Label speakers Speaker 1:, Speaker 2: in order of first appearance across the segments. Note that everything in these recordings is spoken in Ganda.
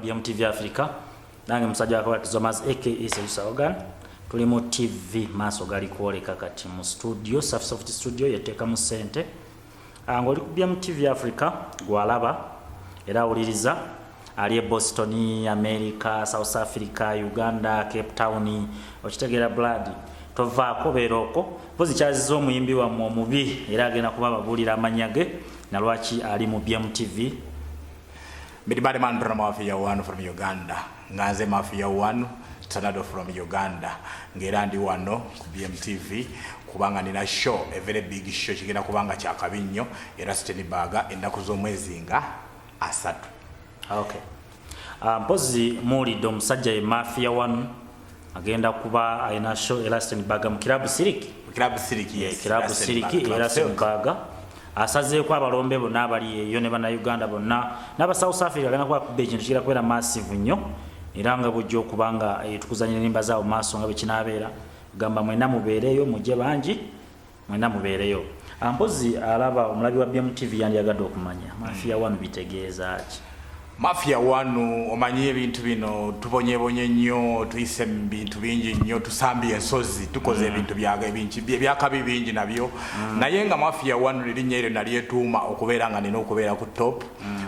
Speaker 1: bya mtv africa nange musajja wakola tizomas aka sejusa ogan tuli mu tv maaso gali kwoleka kati mu studio safsoft studio yeteeka mu sente ah, ngaoli ku bya mtv africa gwalaba era awuliriza ali e boston america south africa uganda cape town okitegeera blood tovaako beera okwo mpozi kyaziza omuyimbi wammwe omubi era agenda kuba ababuulira amanya ge nalwaki ali mu bmtv
Speaker 2: Midi bad man from Mafia One from Uganda. Nganze Mafia One Tornado from Uganda. Ngera ndi wano ku BMTV kubanga nina show, a very big show kigenda kubanga kya kabi nnyo era Siteni Baga ennaku z'omwezi nga asatu. Okay.
Speaker 1: Uh, mpozi muwulidde omusajja ye Mafia One agenda kuba alina show elaston baga mu kirabu siriki kirabu siriki yes eh,
Speaker 2: kirabu siriki
Speaker 1: elaston baga asazeeko abalombe bonna abali eyo ne bannayuganda bonna n'aba south africa agenda kuba kuba ekintu kigenda kubeera massive nnyo era nga bujja okuba nga eh, tukuzanya enimba zaabo maaso nga bwe kinaabeera gamba mwena mubeereeyo mujje bangi mwena mubeereyo ah, mpozi alaba omulabi wa bmtv yandyagadde okumanya mafiya hmm. wanu bitegeeza ki mafiya
Speaker 2: wanu omanyi ebintu bino tubonyebonye nnyo tuyise mu bintu bingi nnyo tusambye ensozi tukoze hmm. ebintu ebyakabi bingi nabyo hmm. naye nga mafiya wanu lirinnya eryo nalyetuuma okubeera nga nina okubeera ku top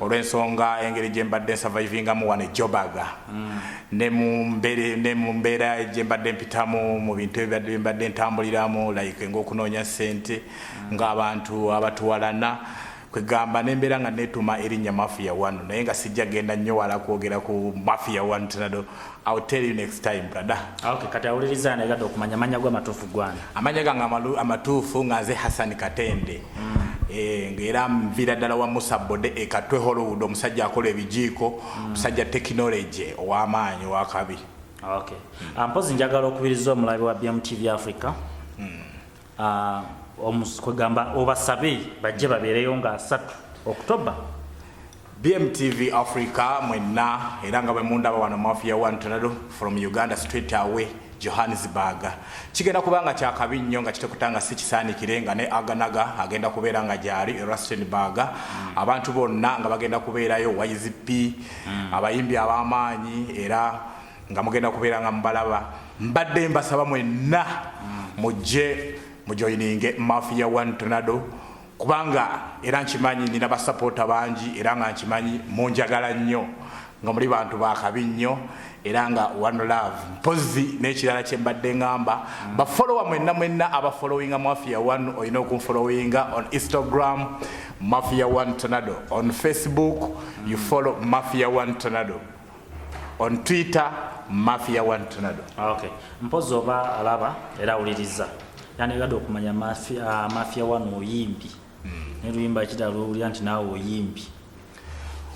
Speaker 2: olw'ensonga engeri gye mbadde nsavaivingamu wano ejobaga mm. ne mu mbere ne mu mbeera gye mbadde mpitamu mu bintu ebibadde bye mbadde ntambuliramu like ng'okunoonya ssente mm. ng'abantu abatuwalana kwegamba nembeera nga netuma erinnya mafia one naye nga sijja genda nnyo wala kwogera ku mafia one tinado I'll tell you next time brother. Ah, okay, kati awuliriza
Speaker 1: naye gada okumanya amanya gwa matuufu gwana. Amanya gange amatuufu
Speaker 2: nga nze Hassan Katende. Mm. Eh, ngera mvira dala wa Musa Bode ekatwe Hollywood omusajja akola ebijiiko musajja mm. tekinologi ow'amaanyi owakabi okay.
Speaker 1: mm. Ah, mpozi njagala okubiriza omulabi wa bmtv africa mm. uh, ah, kwegamba obasabe bajje babeereyo nga asatu oktoba
Speaker 2: bmtv africa mwenna era nga bwemundaba wano mafiya one tornado from uganda straight away Johannesburg kigenda kuba nga kyakabi nnyo nga kitekuta nga si kisaanikire nga ne aganaga agenda kubeera nga gyali Rustenburg mm. abantu bonna nga bagenda kubeerayo YZP mm. abayimbi ab'amaanyi era nga mugenda kubeera nga mubalaba mbadde mbasaba mwenna mm. mujje mujoyininge mafia one tornado kubanga era nkimanyi nina basapoota bangi era nga nkimanyi munjagala nnyo nga muli bantu bakabi nnyo era nga one love mpozi n'ekirala kye mbadde ngamba mm. bafolowa mwenna mwenna abafolowinga mafia one olina okunfolowinga on instagram mafia one tonado on facebook mm. you follow mafia one tonado on twitter mafia one tornado ah, okay mpozi
Speaker 1: oba alaba era awuliriza yani yadde okumanya mafia, ah, mafia one oyimbi mm. naye luyimba kira lwowulira nti naawe oyimbi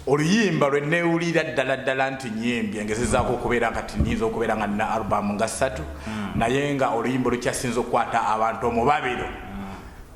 Speaker 2: oluyimba lwe newulira ddala ddala nti nyimbi engezezaako okubeera nga tinyinza okubeera nga nina alubamu nga ssatu hmm. naye nga oluyimba olukyasinza okukwata abantu omubabiro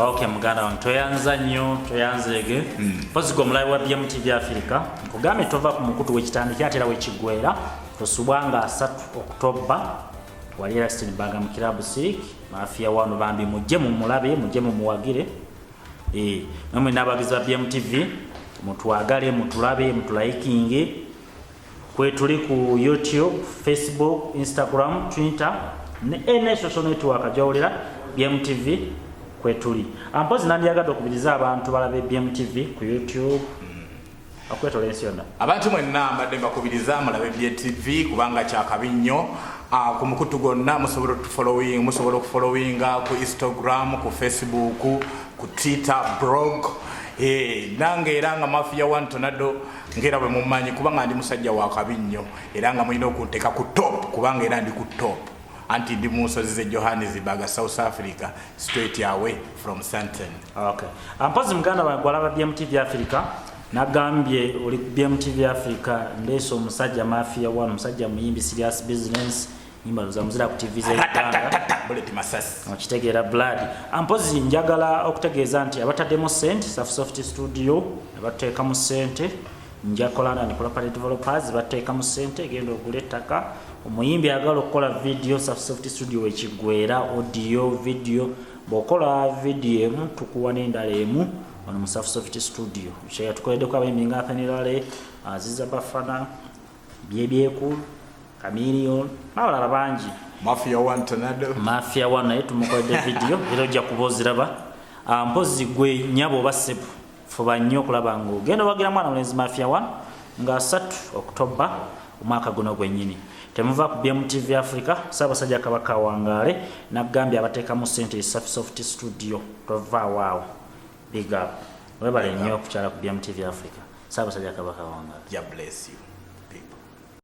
Speaker 3: Okay,
Speaker 1: muganda wange tweyanza nnyo tweyanzeege mpozi hmm. gwe omulabi wa bm tv afirika nkugambye tova ku mukutu wekitandiki ate era wekigwera tosubwa nga asatu okutobba wali era stinbaga mu kirabu sirik mafiya wano bambi mujje mumulabe mujje mumuwagire eh, namwe nabagizi ba bm tv mutwagale mutulabe mutulayikinge kwetuli ku youtube facebook instagram twitter ne ena social network jawulira bmtv kwetuli ampozi nandiyagadde okubiriza abantu balabe bmtv ku youtube okwetola ensi yonna abantu mwenna mbadde
Speaker 2: mbakubiriza mulabe bmtv kubanga kyakabi nnyo ah, ku mukutu gwonna musobola otufolowing musobola okufolowinga ku instagram ku facebook ku twitter brog eh, nange era nga mafiya wantonado ngera bwe mumanyi kubanga ndi musajja wa kabi nnyo era nga mulina okunteeka ku top kubanga era ndi ku top anti ndi mu nsozi ze johannesburg south africa straight away from santon okay. Ah,
Speaker 1: mpozi muganda wange gwalaba bmtv africa nagambye oli bmtv africa ndeesa omusajja mafia one omusajja muyimbi serious business nyimba loza muzira ku TV bullet masasi
Speaker 2: okitegeera blood
Speaker 1: ampozi njagala okutegeeza nti abataddemu sente safu soft studio abateekamu sente njakolana ni property developers bateekamu sente egenda ogula ettaka omuyimbi agala okukola video safu soft studio wekigwera audio video bwokola video emu tukuwa n'endala emu ono musafu soft studio kyeyatukoleddeko abayimbi nga athenirale aziza bafana byebyeku kamilion n'abalala bangi mafia one
Speaker 2: tanado mafia one naye
Speaker 1: tumukoledde vidiyo era ojja kuba oziraba ah, mpozi gwe nyabo oba sebu fuba nnyo okulaba nga ogenda owagira mwana mulenzi mafia one nga asatu okutobba omwaka guno gwennyini temuva ku bmtv africa saabasajja kabaka wangaale nagambye abateekamu sente esafisoft studio tovaawo awo Big up. Webale
Speaker 2: nnyo
Speaker 1: okukyala ku BMTV Africa. Ssaabasajja Kabaka wange. Jah bless you.